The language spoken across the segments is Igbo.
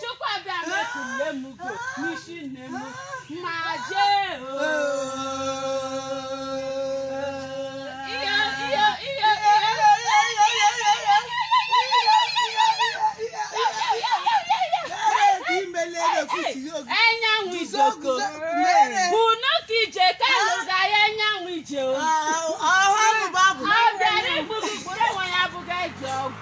Chukwu Abịama ekunne m ugo n'isi nne m ma jee o. Ihe ihe ihe Enyanwụ ijoko bụ n'oke ije ka lụga ya enyanwụ ije o. Ọ bịara igbu gị gburu onwe ya abụghị eji ọgwụ.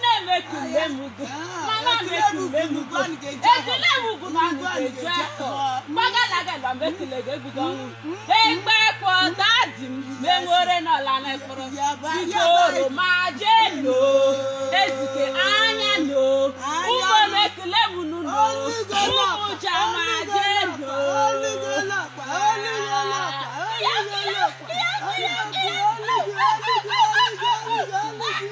na-eme ka mgbe m ugo ma na-eme ka mgbe m ugo ekele m ugwu na ndụ eju afọ gbagalaga na mgbe ekele gị ebudo ọnwụ egbe kwọ dadi m menwere n'ọla na efere biko oroma jee no Ezike anya no ụmụ m ekele m unu no ụmụ jama jee no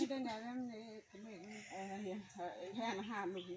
Ndị na-arịọ m na-ekele m. Ee, ha- ha- ha anụghị.